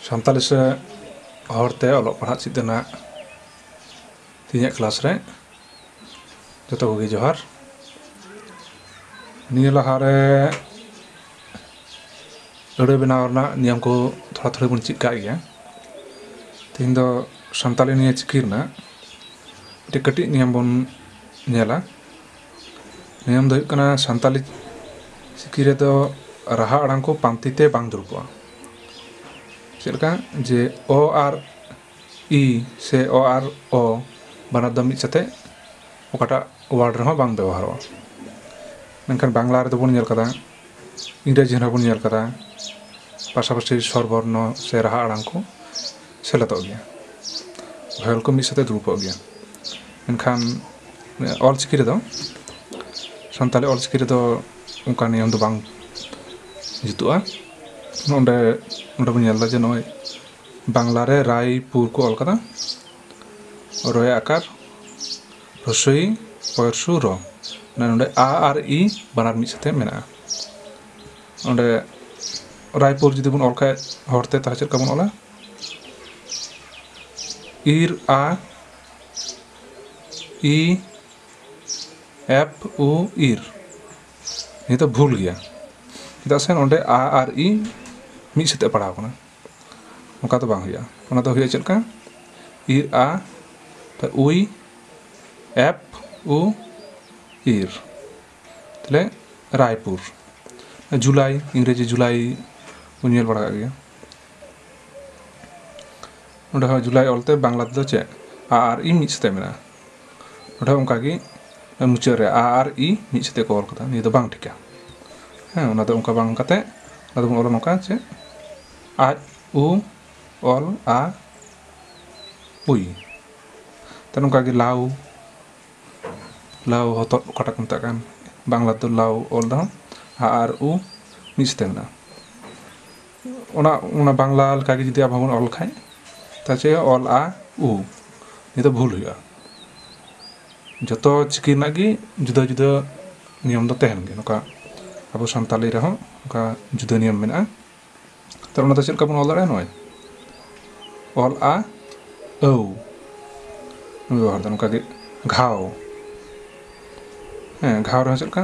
ᱥᱟᱱᱛᱟᱞᱤ ᱥᱮ ᱦᱚᱲᱛᱮ ᱚᱞᱚᱜ ᱯᱟᱲᱦᱟᱜ ᱪᱮᱫ ᱨᱮᱱᱟᱜ ᱛᱤᱦᱤᱧᱟᱜ ᱠᱞᱟᱥ ᱨᱮ ᱡᱚᱛᱚ ᱠᱚᱜᱮ ᱡᱚᱦᱟᱨ ᱱᱤᱭᱟᱹ ᱞᱟᱦᱟᱨᱮ ᱟᱹᱲᱟᱹ ᱵᱮᱱᱟᱣ ᱨᱮᱱᱟᱜ ᱱᱤᱭᱚᱢ ᱠᱚ ᱛᱷᱚᱲᱟ ᱛᱷᱚᱲᱟ ᱵᱚᱱ ᱪᱮᱫ ᱠᱟᱜ ᱜᱮᱭᱟ ᱛᱤᱦᱤᱧ ᱫᱚ ᱥᱟᱱᱛᱟᱞᱤ ᱱᱤᱭᱟᱹ ᱪᱤᱠᱤ ᱨᱮᱱᱟᱜ ᱢᱤᱫᱴᱮᱱ ᱠᱟᱹᱴᱤᱡ ᱱᱤᱭᱚᱢ ᱵᱚᱱ ᱧᱮᱞᱟ ᱱᱤᱭᱚᱢ ᱫᱚ ᱦᱩᱭᱩᱜ ᱠᱟᱱᱟ ᱥᱟᱱᱛᱟᱞᱤ ᱪᱤᱠᱤ ᱨᱮᱫᱚ ᱨᱟᱦᱟ ᱟᱲᱟᱝ ᱠᱚ ᱯᱟᱱᱛᱮ ᱛᱮ ᱵᱟᱝ ᱫᱩᱲᱩᱵᱚᱜᱼᱟ ᱪᱮᱫ ᱞᱮᱠᱟ ᱡᱮ ᱚ ᱟᱨ ᱤ ᱥᱮ ᱚ ᱟᱨ ᱚ ᱵᱟᱱᱟᱨ ᱫᱚ ᱢᱤᱫ ᱥᱟᱛᱮᱜ ᱚᱠᱟᱴᱟᱜ ᱚᱣᱟᱨᱰ ᱨᱮᱦᱚᱸ ᱵᱟᱝ ᱵᱮᱵᱚᱦᱟᱨᱚᱜᱼᱟ ᱢᱮᱱᱠᱷᱟᱱ ᱵᱟᱝᱞᱟ ᱨᱮᱫᱚ ᱵᱚᱱ ᱧᱮᱞ ᱠᱟᱫᱟ ᱤᱝᱨᱮᱡᱤ ᱨᱮᱦᱚᱸ ᱵᱚᱱ ᱧᱮᱞ ᱠᱟᱫᱟ ᱯᱟᱥᱟᱯᱟᱥᱤ ᱥᱚᱨ ᱵᱚᱨᱱᱚ ᱥᱮ ᱨᱟᱦᱟ ᱟᱲᱟᱝ ᱠᱚ ᱥᱮᱞᱮᱫᱚᱜ ᱜᱮᱭᱟ ᱵᱷᱟᱭᱮᱞ ᱠᱚ ᱢᱤᱫ ᱥᱟᱛᱮ ᱫᱩᱲᱩᱵᱚᱜ ᱜᱮᱭᱟ ᱢᱮᱱᱠᱷᱟᱱ ᱚᱞ ᱪᱤᱠᱤ ᱨᱮᱫᱚ ᱥᱟᱱᱛᱟᱲᱤ ᱚᱞ ᱪᱤᱠᱤ ᱨᱮᱫᱚ ᱚᱱᱠᱟ ᱱᱤᱭᱚᱢ ᱫᱚ ᱵᱟᱝ ᱡᱩᱛᱩᱜᱼᱟ ᱱᱚᱰᱮ ᱱᱚᱰᱮ ᱵᱚᱱ ᱧᱮᱞᱫᱟ ᱡᱮ ᱱᱚᱜᱼᱚᱭ ᱵᱟᱝᱞᱟ ᱨᱮ ᱨᱟᱭᱯᱩᱨ ᱠᱚ ᱚᱞ ᱠᱟᱫᱟ ᱨᱚᱭᱮ ᱟᱠᱟᱨ ᱨᱥᱳᱭ ᱯᱚᱨᱥᱩ ᱨᱚ ᱢᱟᱱᱮ ᱱᱚᱸᱰᱮ ᱟ ᱟᱨ ᱤ ᱵᱟᱱᱟᱨ ᱢᱤᱫ ᱥᱟᱛᱮ ᱢᱮᱱᱟᱜᱼᱟ ᱚᱸᱰᱮ ᱨᱟᱭᱯᱩᱨ ᱡᱩᱫᱤ ᱵᱚᱱ ᱚᱞ ᱠᱷᱟᱡ ᱦᱚᱲᱛᱮ ᱛᱟᱦᱚᱞᱮ ᱪᱮᱫ ᱞᱮᱠᱟ ᱵᱚᱱ ᱚᱞᱟ ᱤᱨ ᱟ ᱤ ᱮᱯᱷ ᱩ ᱤᱨ ᱱᱤᱭᱟᱹ ᱫᱚ ᱵᱷᱩᱞ ᱜᱮᱭᱟ ᱪᱮᱫᱟᱜ ᱥᱮ ᱱᱚᱸᱰᱮ ᱟ ᱟᱨ ᱤ ᱢᱤᱫ ᱥᱟᱛᱮ ᱯᱟᱲᱟᱣ ᱠᱟᱱᱟ ᱚᱱᱠᱟ ᱫᱚ ᱵᱟᱝ ᱦᱩᱭᱩᱜᱼᱟ ᱚᱱᱟ ᱫᱚ ᱦᱩᱭᱩᱜᱼᱟ ᱪᱮᱫ ᱞᱮᱠᱟ ᱤᱨ ᱟ ᱛᱚ ᱩᱭ ᱮᱯ ᱩ ᱤᱨ ᱛᱟᱦᱞᱮ ᱨᱟᱭᱯᱩᱨ ᱡᱩᱞᱟᱭ ᱤᱝᱨᱮᱡᱤ ᱡᱩᱞᱟᱭ ᱵᱚᱱ ᱧᱮᱞ ᱵᱟᱲᱟ ᱠᱟᱜ ᱜᱮᱭᱟ ᱱᱚᱸᱰᱮ ᱦᱚᱸ ᱡᱩᱞᱟᱭ ᱚᱞᱛᱮ ᱵᱟᱝᱞᱟ ᱛᱮᱫᱚ ᱪᱮᱫ ᱟ ᱟᱨ ᱤ ᱢᱤᱫ ᱥᱟᱛᱮᱜ ᱢᱮᱱᱟᱜᱼᱟ ᱱᱚᱰᱮ ᱦᱚᱸ ᱚᱱᱠᱟ ᱜᱮ ᱢᱩᱪᱟᱹᱫ ᱨᱮ ᱟ ᱟᱨ ᱤ ᱢᱤᱫ ᱥᱟᱛᱮ ᱠᱚ ᱚᱞ ᱠᱟᱫᱟ ᱱᱤᱭᱟᱹ ᱫᱚ ᱵᱟᱝ ᱴᱷᱤᱠᱟ ᱦᱮᱸ ᱚᱱᱟ ᱫᱚ ᱚᱱᱠᱟ ᱵᱟᱝ ᱠᱟᱛᱮ ᱟᱫᱚ ᱵᱚᱱ ᱚᱞᱟ ᱱᱚᱝᱠᱟ ᱡᱮ ᱟᱡ ᱩ ᱚᱞ ᱟ ᱩᱭ ᱛᱟᱦᱞᱮ ᱱᱚᱝᱠᱟ ᱜᱮ ᱞᱟᱣ ᱞᱟᱣ ᱦᱚᱛᱚᱫ ᱚᱠᱟᱴᱟᱜ ᱠᱚ ᱢᱮᱛᱟᱜ ᱠᱟᱱ ᱵᱟᱝᱞᱟ ᱛᱮ ᱞᱟᱣ ᱚᱞ ᱨᱮᱦᱚᱸ ᱟ ᱟᱨ ᱩ ᱢᱤᱫ ᱥᱟᱛᱮ ᱢᱮᱱᱟᱜᱼᱟ ᱚᱱᱟ ᱚᱱᱟ ᱵᱟᱝᱞᱟ ᱞᱮᱠᱟᱜᱮ ᱡᱩᱫᱤ ᱟᱵᱚ ᱵᱚᱱ ᱚᱞ ᱠᱷᱟᱡ ᱛᱟᱦᱚᱞᱮ ᱪᱮᱫ ᱦᱩᱭᱩᱜᱼᱟ ᱚᱞ ᱟ ᱩ ᱱᱤᱭᱟᱹ ᱫᱚ ᱵᱷᱩᱞ ᱦᱩᱭᱩᱜᱼᱟ ᱡᱚᱛᱚ ᱪᱤᱠᱤ ᱨᱮᱱᱟᱜ ᱜᱮ ᱡᱩᱫᱟᱹ ᱡᱩᱫᱟᱹ ᱱᱤᱭᱚᱢ ᱫᱚ ᱛᱟᱦᱮᱱ ᱜᱮᱭᱟ ᱱᱚᱝᱠᱟ ᱟᱵᱚ ᱥᱟᱱᱛᱟᱲᱤ ᱨᱮᱦᱚᱸ ᱚᱱᱠᱟ ᱡᱩᱫᱟᱹ ᱱᱤᱭᱚᱢ ᱢᱮᱱᱟᱜᱼᱟ ᱛᱚ ᱚᱱᱟ ᱫᱚ ᱪᱮᱫ ᱞᱮᱠᱟ ᱵᱚᱱ ᱚᱞ ᱫᱟᱲᱮᱭᱟᱜᱼᱟ ᱱᱚᱜᱼᱚᱭ ᱚᱞ ᱟ ᱟᱹᱣ ᱵᱚᱱ ᱵᱮᱵᱚᱦᱟᱨᱫᱟ ᱱᱚᱝᱠᱟᱜᱮ ᱜᱷᱟᱣ ᱦᱮᱸ ᱜᱷᱟᱣ ᱨᱮᱦᱚᱸ ᱪᱮᱫ ᱞᱮᱠᱟ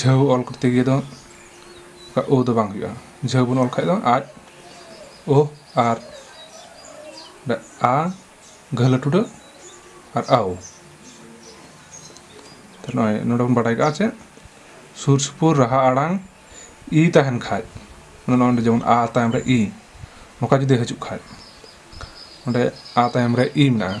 ᱡᱷᱟᱹᱣ ᱚᱞ ᱠᱚᱨᱛᱮ ᱜᱤᱭᱮ ᱫᱚ ᱚᱠᱟ ᱳ ᱫᱚ ᱵᱟᱝ ᱦᱩᱭᱩᱜᱼᱟ ᱡᱷᱟᱹᱣ ᱵᱚᱱ ᱚᱞ ᱠᱷᱟᱡ ᱫᱚ ᱟᱡ ᱳ ᱟᱨ ᱟ ᱜᱷᱟᱹᱞᱟᱹ ᱴᱩᱰᱟᱹᱜ ᱟᱨ ᱟᱣ ᱛᱟᱦᱞᱮ ᱱᱚᱜᱼᱚᱭ ᱱᱚᱰᱮ ᱵᱚᱱ ᱵᱟᱰᱟᱭ ᱠᱟᱜᱼᱟ ᱪᱮᱫ ᱥᱩᱨ ᱥᱩᱯᱩᱨ ᱨᱟᱦᱟ ᱟᱲᱟᱝ ᱤ ᱛᱟᱦᱮᱱ ᱠᱷᱟᱡ ᱱᱚᱰᱮ ᱡᱮᱢᱚᱱ ᱟ ᱛᱟᱭᱚᱢ ᱨᱮ ᱤ ᱱᱚᱝᱠᱟ ᱡᱩᱫᱤ ᱦᱤᱡᱩᱜ ᱠᱷᱟᱡ ᱚᱸᱰᱮ ᱟ ᱛᱟᱭᱚᱢ ᱨᱮ ᱤ ᱢᱮᱱᱟᱜᱼᱟ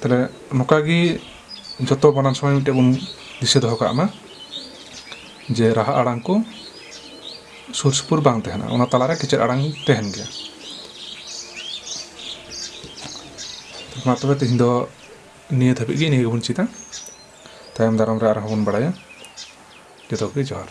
ᱛᱟᱦᱞᱮ ᱱᱚᱝᱠᱟ ᱜᱮ ᱡᱚᱛᱚ ᱵᱟᱱᱟᱱ ᱥᱚᱢᱚᱭ ᱢᱤᱫᱴᱮᱡ ᱵᱚᱱ ᱫᱤᱥᱟᱹ ᱫᱚᱦᱚ ᱠᱟᱜ ᱢᱟ ᱡᱮ ᱨᱟᱦᱟ ᱟᱲᱟᱝ ᱠᱚ ᱥᱩᱨ ᱥᱩᱯᱩᱨ ᱵᱟᱝ ᱛᱟᱦᱮᱱᱟ ᱚᱱᱟ ᱛᱟᱞᱟᱨᱮ ᱠᱮᱪᱮᱫ ᱟᱲᱟᱝ ᱛᱟᱦᱮᱱ ᱜᱮᱭᱟ ᱢᱟ ᱛᱚᱵᱮ ᱛᱮᱦᱮᱧ ᱫᱚ ᱱᱤᱭᱟᱹ ᱫᱷᱟᱹᱵᱤᱡ ᱜᱮ ᱱᱤᱭᱟᱹ ᱜᱮᱵᱚᱱ ᱪᱮᱫᱟ ᱛᱟᱭᱚᱢ ᱫᱟᱨᱟᱢ ᱨᱮ ᱟᱨᱦᱚᱸ ᱵᱚᱱ ᱵᱟᱲᱟᱭᱟ ᱡᱚᱛᱚ ᱠᱚᱜᱮ ᱡᱚᱦᱟᱨ